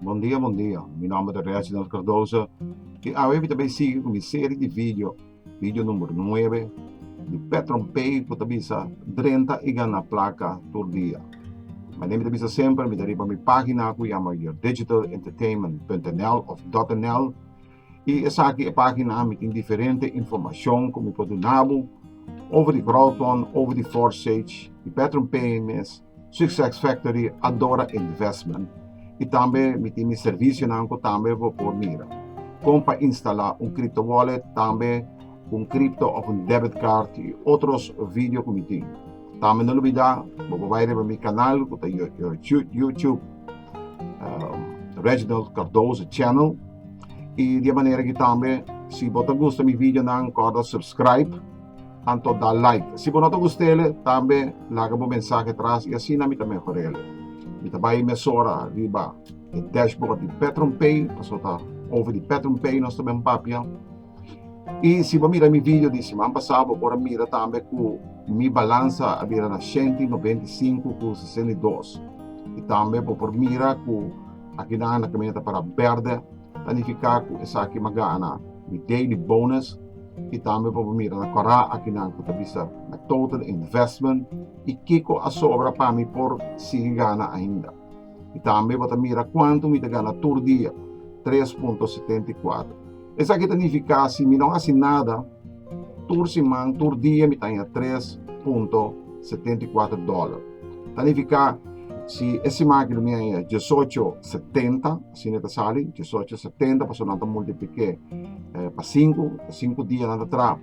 Bon dia bon dia mi nomber ta Reginald Cardoso y awe mi ta bay sigui cu mi serie di video video number nuebe di Petron Pay cu ta bisa drenta y gana placa tur dia manera mi ta bisa semper mi ta riba mi pagina cu yama your digital entertainment punt nl of dot nl. Y esaki e pagina ami tin diferente informacion cu mi por dunabo over di Groton, over di Forsage, di Petron PMS, Success Factory, Adora Investment. Y tambe mi tin mi servicionan cu tambe bo por mira. Con pa instala un crypto wallet, tambe un crypto of un debit card y otros video cu mi tin. Tambe no lubida bo por bai riba mi kanal ku ta YouTube Reginald Cardoso Channel i di e manera aki tambe si bo ta gusta mi videonan kòrda subscribe anto da like si bo no ta gust'e tambe laga bo mensahe atras i asina mi ta mehor'el mi ta bai mesora riba e dashboard di PetronPay pasobra ta over di PetronPay nos ta bin papia. Y si bo mira mi video di siman pasá bo por a mira tambe cu mi balansa a bira na shenti noventa i sinku ku sesenta i dos. Y tambe bo por mira cu akinan na caminata para berde ta nifica cu esaki m'a gana mi daily bonus y tambe bo por mira na kora akinan cu ta bisa na total investment y kico a sobra pa mi por sigui gana ainda. I tambe bo ta mira kuantu mi ta gana tur dia, tres punto setenta i kuater. Esaki ta nifiká si mi no hasi nada, tur siman, tur dia mi ta haña tres punto setenta i kuater dòler. Ta nifiká si e siman aki lo mi haña diesocho setenta, asina e ta sali, diesocho setenta, pasobra nan ta multiplik'é pa sinku, sinku dia nan ta traha.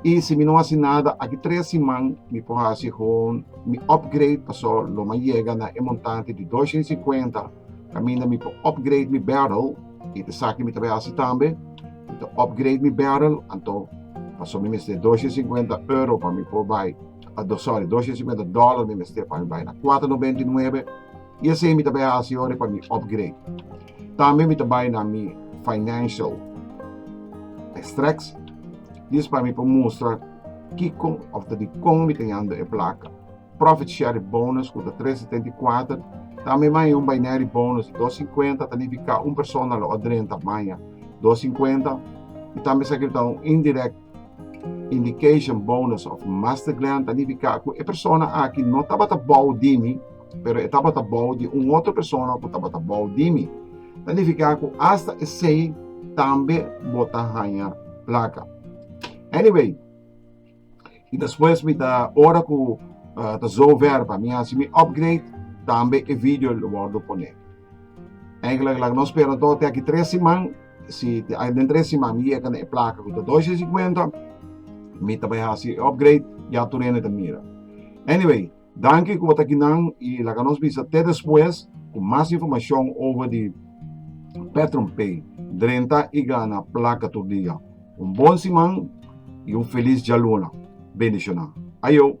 Y si mi no haci nada aki tres siman mi por haci gewoon mi upgrade paso lo mi a yega na e montante di dos shin singkuenta caminda mi por upgrade mi barrel y ta esaki mi ta bay haci tambe mi ta upgrade mi barrel anto paso mi mester dos shin singkuenta euro pa mi por bay sorry dos shin singkuenta dollar mi mester pa mi bay na cuatro noventa y nuebe I esei mi ta bai hasi ora pa mi upgrade. Tambe mi ta bai na mi financial extracts dis pa mi por mustra kiko of ta dikon mi ta yanda e plaka. Profit share bonus ku ta tres setenta i kuater tambe maya un binary bonus di dos sinkuenta ta nifiká un persona lo a drenta maya dos sinkuenta i tambe sa kil ta un indirect indication bonus of master glan ta nifiká ku e persona aki no tabata bou di mi pero e tabata bou di un otro persona ku tabata bou di mi. Ta nifiká ku asta esei tambe bo ta haña plaka. Anyway, i despues mi ta ora ku uh, ta zover pa mi hasi mi upgrade, tambe e video lo wordo pone. Eigenlijk la no spera tot te aki tres siman, si te ai den tres siman mi yeka na e plaka ku ta 250, mi ta bai hasi upgrade, ya turene ta mira. Anyway, Danki ku bo ta kinan i laga nos bisa te despues ku mas informashon over di PatronPay. Drenta i gana plaka tur dia. Un bon siman i un felis djaluna. Bendishonan. Ayo!